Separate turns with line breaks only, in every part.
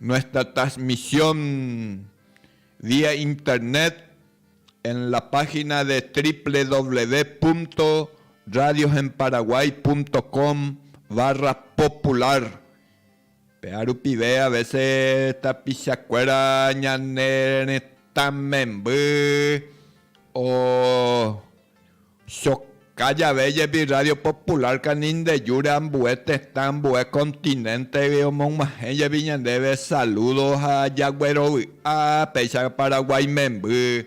Nuestra transmisión vía internet en la página de www.radiosenparaguay.com barra popular péva rupive a veces tapichakuéra ñane retã memby o Soka jave jepi Radio Popular kanindejúre ambue tetã, ambue continente-gui omog̃uahẽ jepi ñandéve saludo ha jaguerovy'a péicha Paraguái memby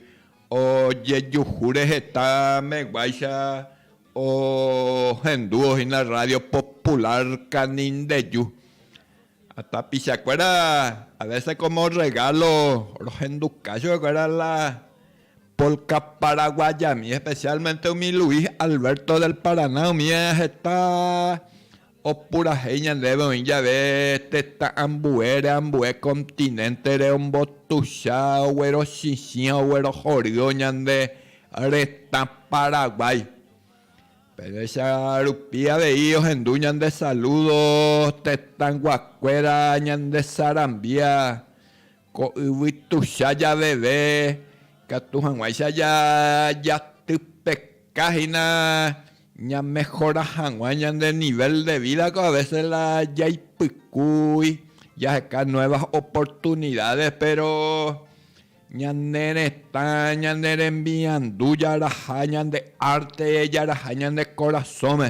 ojejuhúre heta meguáicha ohendúvo hína Radio Popular kanindeju. Ha tapichakuéra a veces como regalo rohenduka chupekuéra la Polka paraguayami, especialmente umi Luis Alberto del Paraná umi heta opurahéi ñandéve oĩ jave tetã ambuére, ambue continente-re ombotucha, oguerochichĩa, oguerohory'o ñande retã Paraguay. Péicha rupi avei ohendu ñande saludo tetãguakuéra ñande sarambia Ko yvy tuicha javeve, ikatu hag̃uáicha jatypeka hína ñamehora hag̃ua ñande nivél de vída, ko avese la jaipykúi jaheka nuevas oportunidades, péro ñane retã, ñane rembiandu jaraha, ñande arte jaraha ñande korasõme.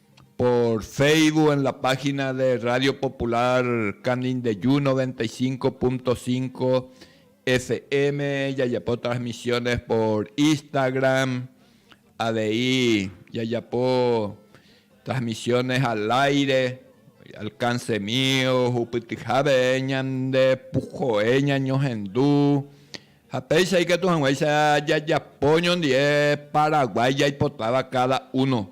por Facebook en la página de Radio Popular Canindeyú 95.5 FM, jajapo transmisiones por Instagram, avei jajapo transmisiones al aire, alcance mío, jupytyhápe ñande puhoe ñañohendu, ha péicha ikatu hag̃uáicha jajapo ñondive Paraguái jaipotáva cada uno.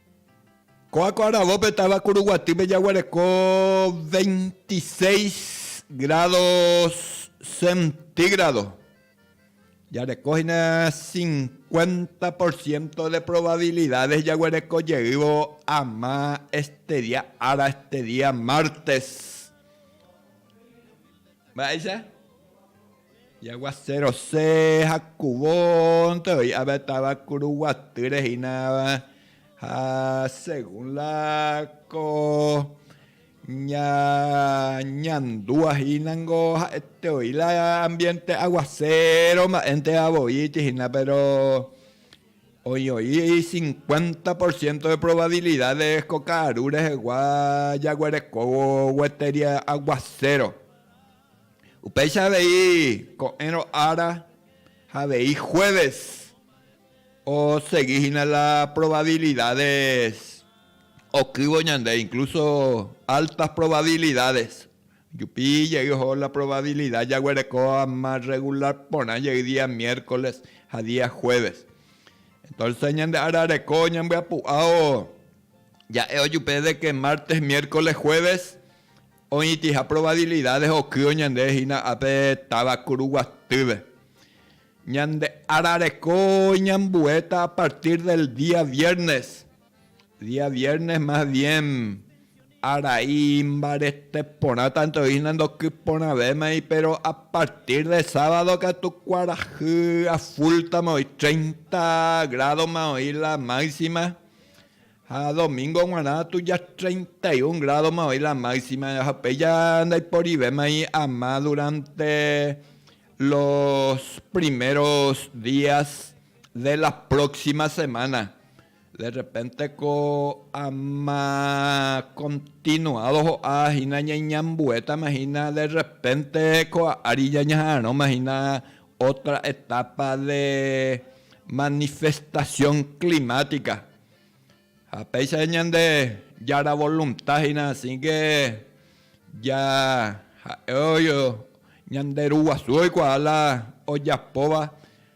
Ko akõ aravópe táva Kuruguatýpe jaguereko veintiséis grádo centígrado. Jareko hína cincuenta por ciento de probabilidades jaguereko jeývo ama este día ára, este día martes. Mba'éicha? Jaguaserose jakuvónte voi ave táva kuruguatýre hína ha según la ko ñañandúva hína niko ha'ete voi la ambiente aguasero mba'énteva voi itihína péro Oĩjo'i cincuenta por ciento de probabilidades ko ka'aru rehegua jaguerekóvo gueteria aguacero. Upéicha avei ko'ẽrõ ára ha avei jueves osegi hína la probabilidades okývo ñande, incluso altas probabilidades. Jupi jey oho la probavilida jaguereko ama regular porã jey día miércoles ha día jueves. Entonces ñande ára reko ñambyapu'ao ja'e ojupe de que martes, miércoles, jueves oĩtiha probabilidades okýo ñande hína ápe táva Kuruguatýpe. Ñande ára reko ñambuéta a partir del día viernes Día viernes más bien arai imbarete porã tanto hína ndokyporãvémai péro a partir de sábado katu kuarahy afúltama oĩ treinta grádoma oĩ la máxima ha domingo g̃uarã tuja treinta y un grádoma oĩ la máxima ha upéicha ndaiporivémai ama durante los primeros días de la próxima semana De rrepénte ko ama kontinuádo ho'a hína ñaiñambuétama hína de rrepénte ko ári ñañaha'arõma hína ótra etápa de manifestasión klimátika. Ha péicha ñande Jára volunta hína asíke ja ha'e ñande Ru guasu oikuaa la ojapóva.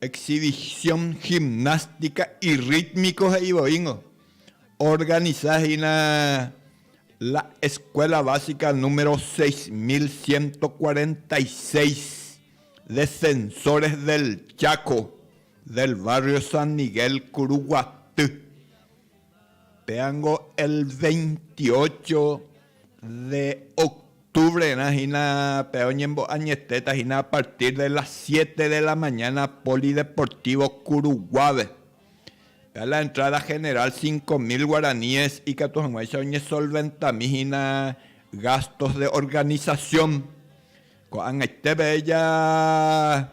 Exhibición gimnástica y rítmico he'i voíngo, organiza hína la Escuela Básica número 6146 Defensores del Chaco del barrio San Miguel Kuruguaty. Péango el veintiocho de octubre-rã hína pe oñembo'añetéta hína a partir de las siete de la mañana Polideportivo Curuguáve. Pe la entrada general cinco mil guaraníes ikatu hag̃uáicha oñesolventami hína gastos de organización. Ko'ag̃aitépe ja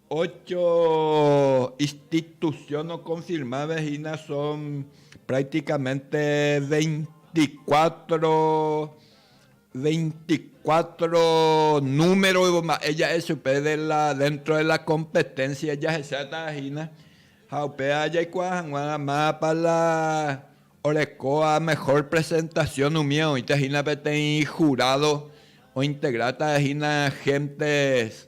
Ocho institución okonfirmáve hína son prácticamente veinticuatro, veinticuatro número mba'e ja'e chupe de la, dentro de la competencia jahecháta hína. Ha upéva jaikuaa hag̃ua mápa la orekóva mejor presentación umi oĩta hína peteĩ jurado ointegráta hína gentes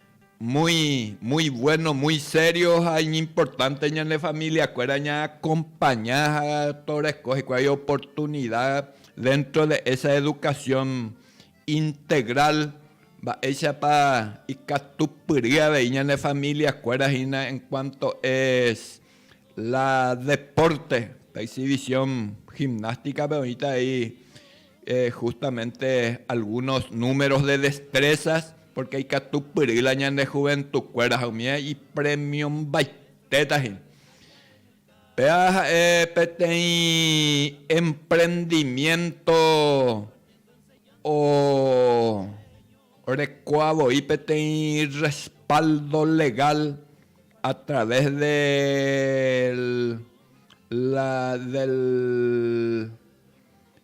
Muy, muy bueno, muy serio ha iñimportánte ñane familiakuéra ñaakompaña ha toreko hikuái oportunida déntro de esa edukasión integral, mba'éichapa ikatupyry avei ñane familiakuéra hína en kuánto es la depórte, pe exhibición gimnástica-pe oĩta avei Justamente algunos números de destrezas, pórke ikatupyry la ñande juventukuéra ha umi ipremiombaite-ta he'i. Péva ha'e peteĩ emprendimiénto orekóva voi peteĩ respaldo legal a través de la, del,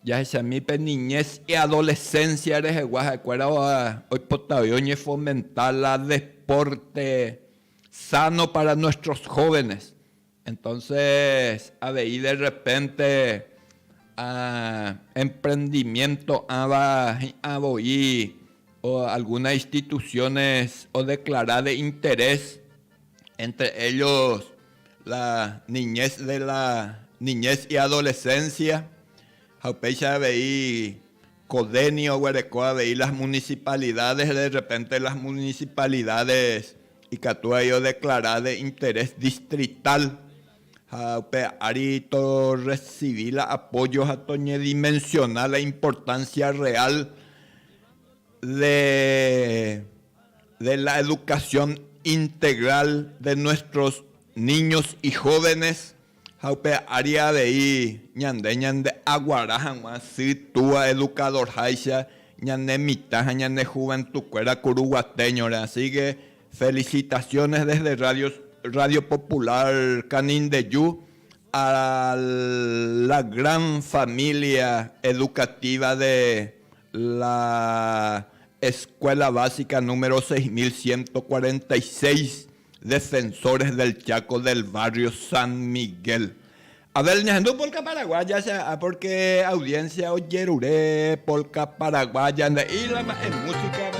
Jahechami pe niñez y adolescencia rehegua ha'ekuéra oipotavẽ oñefomenta la deporte sano para nuestros jóvenes. Entonces avei de repente emprendimiento'ãva hi'ã voi algunas instituciones odeclara de interés entre ellos la niñez de la niñez y adolescencia, ha upéicha avei ko DENI oguereko avei las municipalidades, de repente las municipalidades ikatu avei odeclara de interés distrital, ha upe ári torrecibi la apoyo ha toñedimensiona la importancia real. de de la educación integral de nuestros niños y jóvenes ha upe área avei ñande ñande'aguara hag̃ua sy túa educadorháicha ñane mitã ha ñane juventukuéra kuru guatéñore. Así que felicitaciones desde Radio Radio Popular Canindeyu a la gran familia educativa de La Escuela Básica número seis mil ciento cuarenta y seis, Defensores del Chaco del barrio San Miguel. A ver, ñahendu polka paraguaya che a'a porque audiencia ojerure polka paraguaya, nde'íla mba'e música-pe.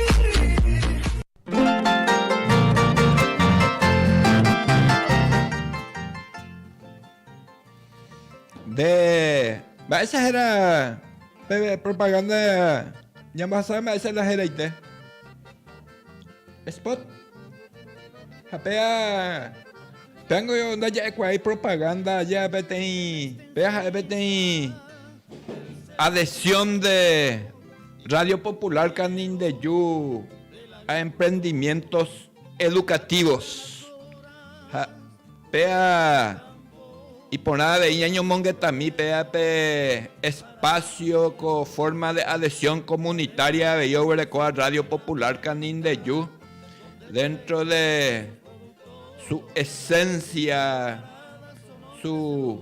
De mba'éicha héra pe propaganda ñambohasave mba'éicha la heraite. Spot. Ha péa péango ndaja'ekuaái propaganda aja peteĩ péa ha'e peteĩ adhesión de Radio Popular Canindeju ha Emprendimientos Educativos ha péa iporã avei ñañomongetami péa pe espacio ko forma de adhesión comunitaria avei oguerekóva Radio Popular Canindeju dentro de su esencia, su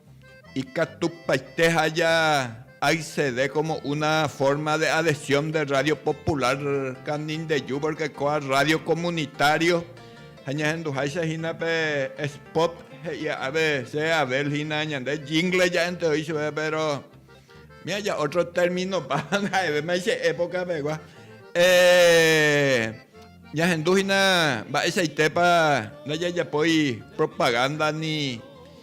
Ikatupaite haja accede como una forma de adhesión de radio popular Canindeyu porque kóa radio comunitario ha ñahenduháicha hína pe spot he'ia a veces Abel hína ñande jingle ja'énte oĩ chupe pero miaja otro término páva ha'evéma che época pegua ñahendu hína mba'eichaitépa ndajajapói propaganda ni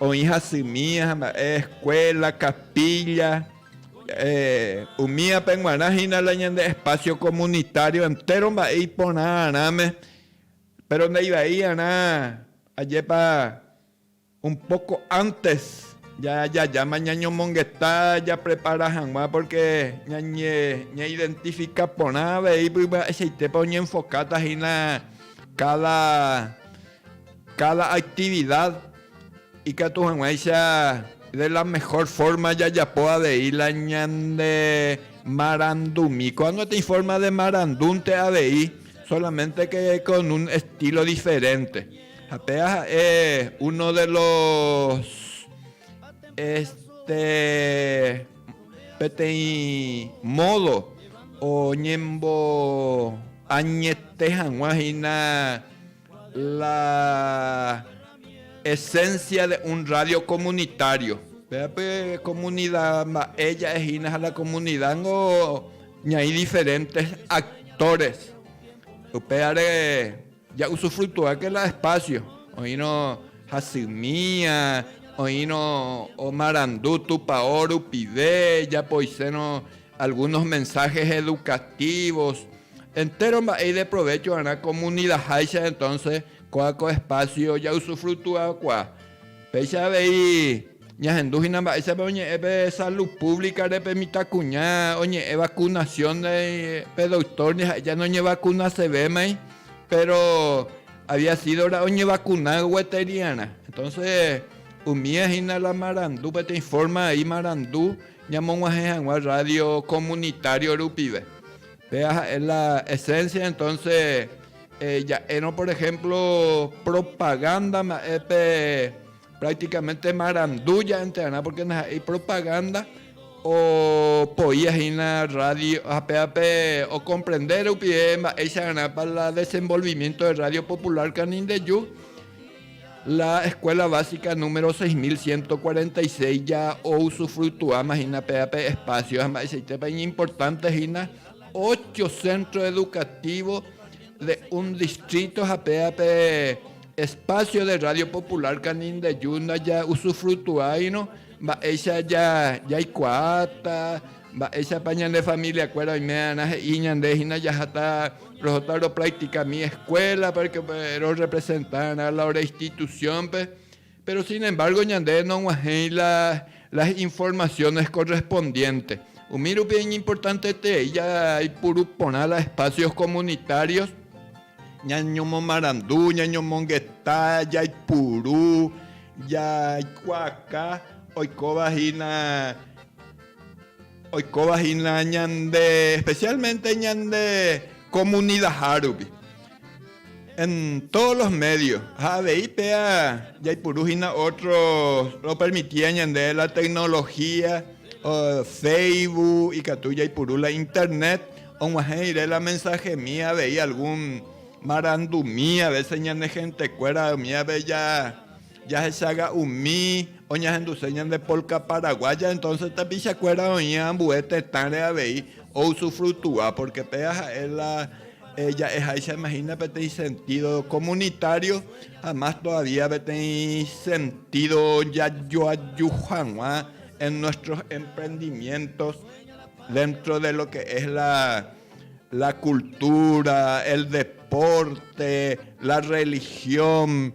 Oĩ hasymi ha mba'e escuela, capilla, eh, umi ape guarã hína la ñande espacio comunitario entéro mba'e iporã arãme, péro ndaivaiarã ajépa Un poco antes ja jajáma ñañomongeta japrepara hag̃ua porque ñañe ñaidentifica porã avei pyva'eseitépa oñenfokáta hína cada cada actividad ikatu hag̃uáicha de la mejor forma jajapo avei la ñande marandumi. Ko'ág̃a gotyo forma de marandúnte avei solamente que con un estilo diferente. Ha péva ha'e uno de los este peteĩ módo oñemboañete hag̃ua hína la esencia de un radio comunitario. Péva pe comunida mba'e ja'e hína ha la comunida ningo ñaĩ diferentes actores. Upévare Ja'usufruituáke la espásio. Oĩrõ hasymia, oĩrõ omarandu Tupao rupive, japoiséirõ algúnos mensáhes edukatívos. Entéro mba'e ideprovécho va'erã komunidaháicha entónse, kóa ko espásio ja'usufruituakuaa. Péicha avei. Ñahendu hína mba'éichapa oñe'ẽ pe Salud Pública-re pe mitãkuña oñe'ẽ vacunación-ndai, pe doctor ndive ha'e jane oñevakunasevémai, péro había sídora oñevakuna gueteríarã. Entonse umía hína la marandu, peteĩ forma vai marandu ñamog̃uahẽ hag̃ua radio comunitario rupive. Péva ha'e la esencia, entonse ja'érõ por ejemplo propaganda mba'e pe. Prácticamente marandu ja'enterarã porque ndaha'éi propaganda opoía hína radio hape'ape ocomprende rupive mba'éichararãpa la desenvolvimiento de radio popular Canindeyu la escuela básica número 6146 ja ousufructuáma hína péva pe espacio ha mba'eichaitépa iñimportante hína ocho centro educativo de un distrito ha péva pe Espacio de Radio Popular Canindeyú ndaja'usufrutuáirõ mba'éicha jaikuaáta, mba'éichapa ñande familiakuéra oime'arã he'i ñande hína jaháta rohóta ropractika mi escuela para que rorrepresentárõ la institución-pe Péro sin embargo ñande nog̃uahẽi las informaciones correspondientes. Umi rupi iñimportanteterei jaipuru porã la espacios comunitarios, ñañomomarandu, ñañomongeta, jaipuru, jaikuaaka oikóva hína, oikóva hína ñande, especialmente ñande comunidaha rupi. en todos los medios ha avei péva jaipuru hína otro ropermitíva ñande la tecnología Facebook ikatu jaipuru la internet og̃uahẽ rire la mensajemi avei algún marandumi a veces ñane gentekuéra umi ápe Jahechaga umi oñahenduse ñande polka paraguaya, entonces tapichakuéra oĩ ambue tetãre avei ousufrutua, porque péva ha'e la ja'eháicha imagina peteĩ sentido comunitario ha más todavía peteĩ sentido jajoaju hag̃ua en nuestros emprendimientos dentro de lo que es la cultura, el deporte, la religión.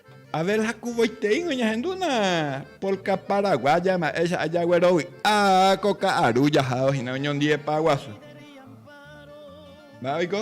Abel ha kuvoiteíngo ñahendúna polka paraguaya mba'éicha ajaguerovy'a ko ka'aru jahávo hína oñondiepa guasu. Mba'e oiko?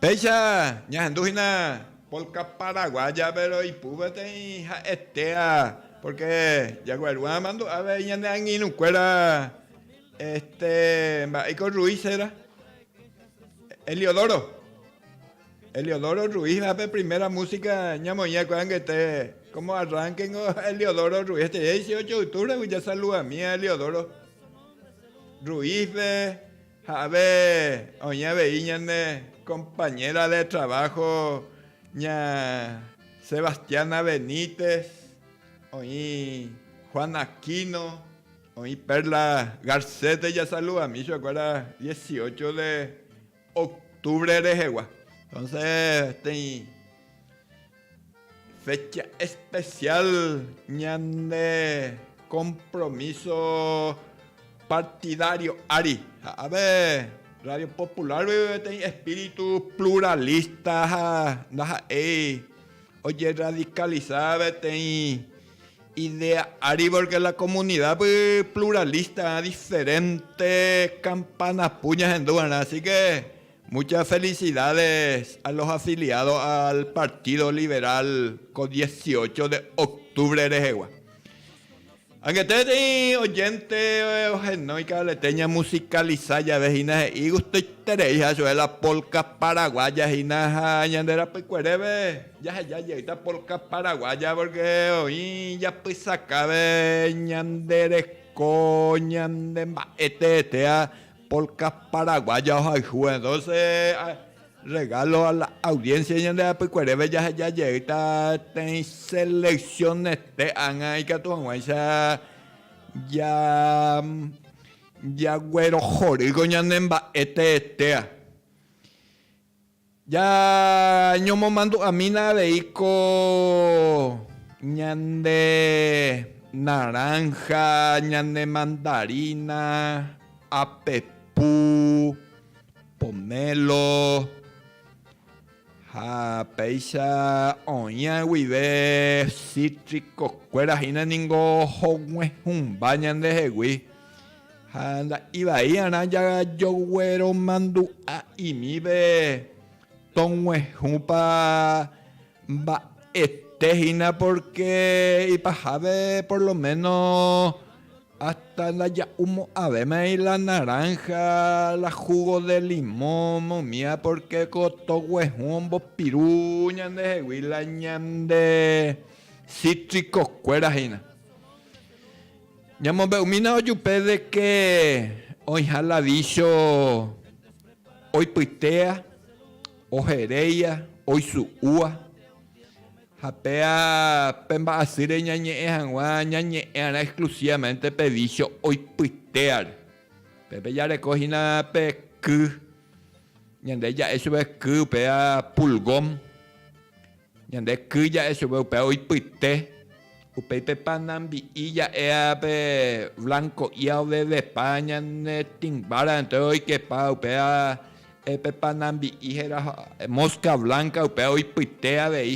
Péicha ñahendu hína polka paraguaya, péro ipúpe teĩ ha'etéva, pórke jagueru'ã amandu'a avei ñane angirũkuéra este mba'éiko Ruiz héra, Heliodoro, Heliodoro Ruizva pe primera músika ñamoĩva ko'ag̃uaig̃uite, kómo arránke ningo Heliodoro Ruiz, este diésieocho de oktúvre jasaluda míva Heliodoro Ruizpe. Ja'ave oĩ avei ñane compañera de trabajo ña Sebastiana Benítez, oĩ Juan Aquino, oĩ Perla Garcete jasaludami chupekuéra dieciocho de octubre rehegua. Entonces tei. Fecha especial ñande compromiso partidario ári ha ave Radio Popular-gui peteĩ espíritu pluralista ha ndaha'éi ojerradicaliza peteĩ idea ári porque la comunidad-gui pluralista diferente campana pu ñahenduva'erã, así que Muchas felicidades a los afiliados al Partido Liberal ko dieciocho de octubre rehegua. Angetéteĩ oyente ohenói ka'arete ñamusicaliza jave hína he'i gustoitereiha chupe la polka paraguaya hína ha ñande rapykuereve jaheja jeýta polka paraguaya porque oĩ japysakáve ñande reko ñande mba'e teetea Polka paraguaya ohayhu en doce regalo a la audiencia ñande apykuereve jaheja jeýta teĩ seleccionete ág̃a ikatu hag̃uáicha ja jaguerohorýko ñane mba'e teetea. Jañomomandu'amína avei ko ñande naranja, ñande mandarina, apepu, pomelo ha péicha oĩa guive cítrico kuéra hína ningo ohog̃uehũmba ñandehegui. Ha la ivaí'arã jajogueromandu'a'imíve toguehũpa mba'ete hína pórke ipahápe por lo méno ásta ndaja'umo'ãvémai la naránha, la húgo de limõ momía pórke ko toguehũ ombopiru ñandehegui la ñande sítrikokuéra hína. Ñamombe'umína ojupe de ke oĩha la vícho oipytéa, oheréia, oisu'úa. Ha péa pe mba'asýre ñañe'ẽ hag̃ua ñañe'ẽ'arã exclusivamente pe vícho oipytéare. Pépe jareko hína pe ky, ñande ja'e chupe ky, péa pulgón. Ñande ky ja'e chupe upéva oipyte, upéi pe panambi'i ja'éa pe blanko'ía ovevepa ñane tĩmbára, entóes oikepa upéva pe panambi'i héra mosca blanca upéva oipyte avei.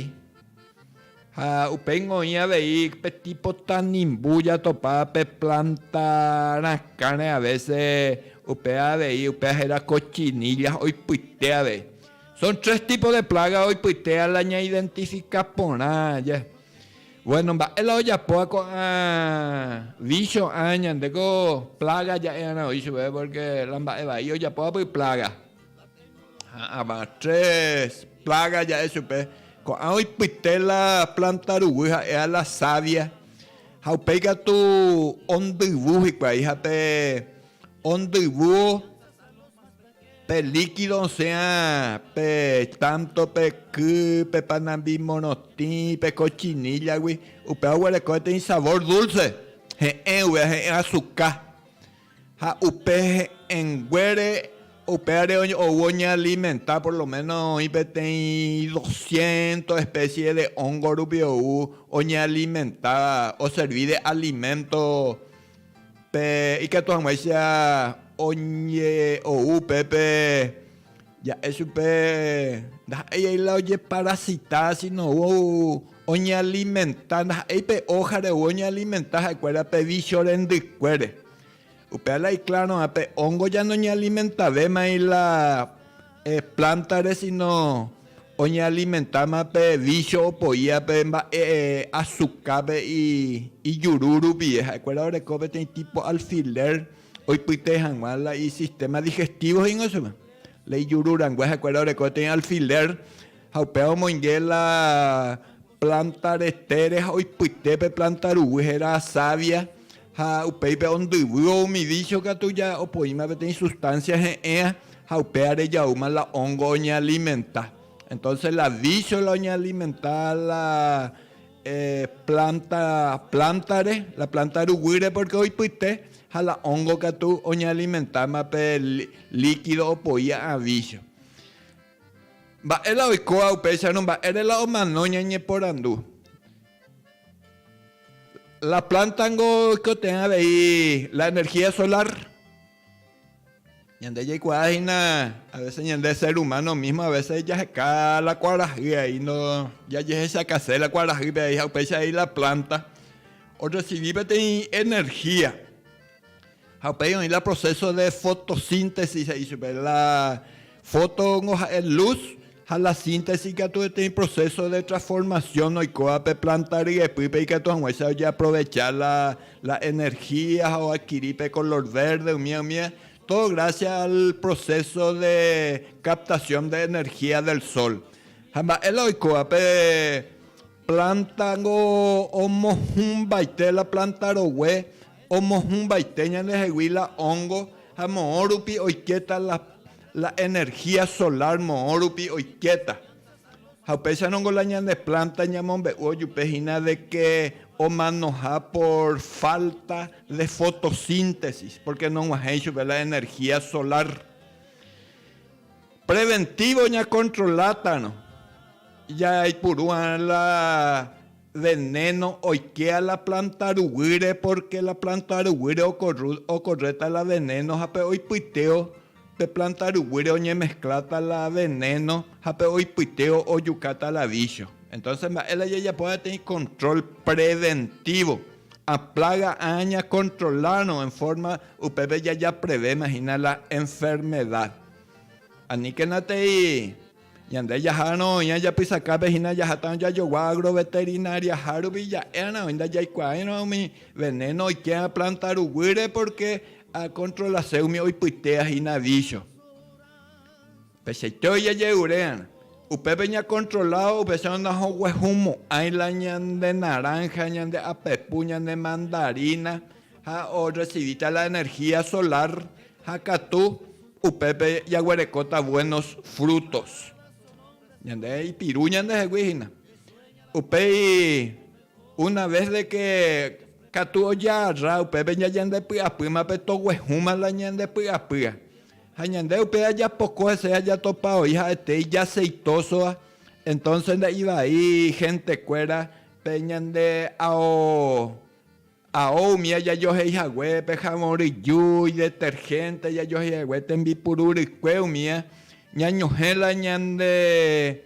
Ha upéingo oĩ avei pe tipo tanimbu jatopa pe planta rakãre a veces upéva avei, upéva héra cochinilla oipyte avei. Son tres tipos de plaga oipytea la ñaidentifica porã aja. Bueno, mba'e la ojapóva ko'ã vicio ã ñande ko plaga ja'e'arã oĩ chupe porque la mba'e vai ojapóva py plaga. Ha'ãva tres plaga ja'e chupe. Ko'ã oipyte la planta ruguy ha'eha la savia ha upéi katu ondyvu hikuái ha pe ondyvuo Pe líkido osẽha pe tánto, pe ky, pe panambi morotĩ, pe kochinillagui, upéva oguereko heta isavór dúlse, he'ẽ guive ahe'ẽ asuka. Ha upe he'ẽnguére upévare ou oñealimenta por lo méno oĩ peteĩ dosciénto espésie de óngorupi ou oñealimentáva oservi de aliménto. Pe ikatu hag̃uáicha oñe'ou upépe, ja'e chupe ndaha'éi ai la ojeparasita, síno oñealimenta, ndaha'éi pe ójare ou oñealimenta ha'ekuéra pe vícho rendykuére. Upéva la ikláro'ã pe óngo ñanoñealimentave mai la Plántare síno oñealimentáma pe vícho opoíva pe mba'e asukápe ijuru rupive. Ha'ekuéra oreko peteĩ típo alfilér oipyte hag̃ua la isistéma digestívo he'íngo chupe, la ijuru rangue. Ha'ekuéra oreko peteĩ alfilér ha upéva omoinge la Planta retére ha oipyte pe planta ruguy héra savia ha upéipe ondyvývo umi vício katu ja opoíma peteĩ sustancia he'ẽa ha upéva rejaúma la hongo oñealimenta. Entonces la vício la oñealimenta la planta plántare, la planta ruguýre porque oipyte ha la hongo katu oñealimentáma pe líquido opoi a'ã vício. Mba'e la oikóva upéicharõ mba'ére la omano ñañeporandu. La planta ningo oikotevẽ avei la energía solar. Ñande jaikuaa hína a veces ñande ser humano mismo a veces jaheka la kuarahy ahí no jajehechakase la kuarahýpe ahí ha upéicha ahí la planta o recibi peteĩ energía. Ha upéi oĩ la proceso de fotosíntesis he'i chupe. La fótongo ha'e luz ha la síntesis katu peteĩ proceso de transformación oikóva pe planta ryepýpe ikatu hag̃uáicha ojeaprovecha la, la energía ha oadquiri pe color verde umíva umíva, todo gracias al proceso de captación de energía del sol. Ha mba'e la oikóva pe Planta niko omohũmbaite la planta rogue omohũmbaite ñandehegui la hongo ha moõ rupi oiketa la la energia solar moõ rupi oiketa ha upéicha niko la ñande planta ñamombe'u ojupe hína de que omanoha por falta de fotosíntesis porque noguahẽi chupe la energia solar preventivo ña controla tarõ. Jaipuru la venéno oikea la planta ruguýre, pórke la planta ruguýre okorréta la venéno ha pe oipytéo pe planta ruguýre oñemeskláta la venéno ha pe oipytéo ojukáta la vícho. Entónse mba'e la jajapo peteĩ kontról preventívo? A plága áa ñakontrolárõ en fórma upépe jajaprevéma hína la enfermeda. Aníkenatei Ñande jaharõ oĩha japysakápe hína jahatã jajogua agroveterinariaha rupi ja'érã oĩ ndajaikuaáirõ umi venéno oikéva plánta ruguýre pórke akontrolase umi oipytéva hína vícho. Upeichaite ojejeruréarã. Upépe ñakontrola upéicharõ nahoguehumo'ãi la ñande naránha, ñande apepu, ñande mandarína ha orresivíta la energía solar ha katu Upépe jaguerekóta buenos frutos. Ñande ipiru ñandehegui hína. Upéi una vez de que katu ojaarra upépe ñajandepy'apýma pe toguehũma la ñandepy'apýa. Ha ñande upe ajapoko hese jajatopa voi ha'ete ijaceitoso-va, entonces nde'ivai gentekuéra pe ñande ao. Ha ou umi ajajohéi hague pe jabón ryju, idetergénte ajajohéi hague tembipuru rykue umi ñañohẽ la ñande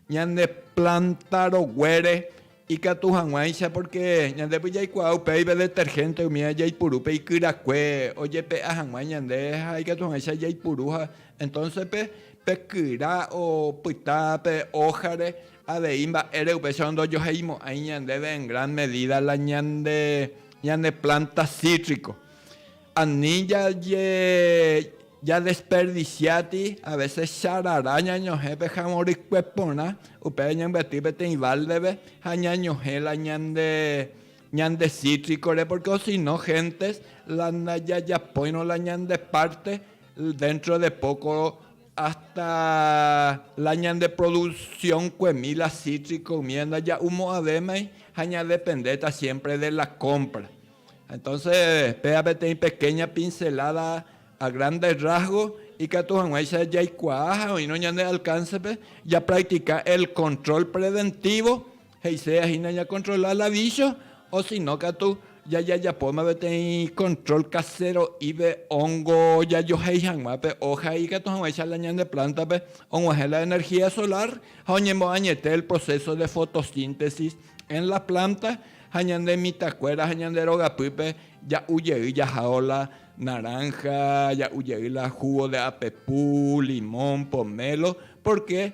ñande plánta roguére ikatu hag̃uáicha, pórke ñandépe jaikuaa upéiva detergénte umi jaipuru pe ikyrakue ojepe'a hag̃ua ñande ha ikatu hag̃uáicha jaipuru ha entónse pe kyra opyta pe ójare Avei mba'ére upéicharõ ndojoheimo'ãi ñandéve en gran medida la ñande ñane planta cítrico. Ani jaje jadesperdiciáti a veces charara ñañohẽ pe javõ rykue porã, upéva ñambyatý peteĩ balde-pe ha ñañohẽ la ñande ñande cítrico-re porque osino gentes la ndajajapóirõ la ñande parte dentro de poco Hasta la ñandeproduccionkuemi la cítrico umíva ndaja'umo'ãvémai ha ñadependéta siémpre de la compra. Entonse péva peteĩ pequeña pincelada a grandes rasgos ikatu hag̃uáicha jaikuaa ha oĩrõ ñande alcáncepe japractica el control preventivo, He'iséva hína ñakontrola la vícho, osino katu jajajapóma peteĩ kontrol kasero'ípe óngo jajohéi hag̃ua pe óha ikatu hag̃uáicha la ñane plántape og̃uahẽ la energía solar ha oñemoañete el proceso de fotosíntesis en la planta ha ñane mitãkuéra ha ñande rogapýpe ja'u jey jahávo la naranja, ja'u jey la jugo de apepu, limón, pomelo, porque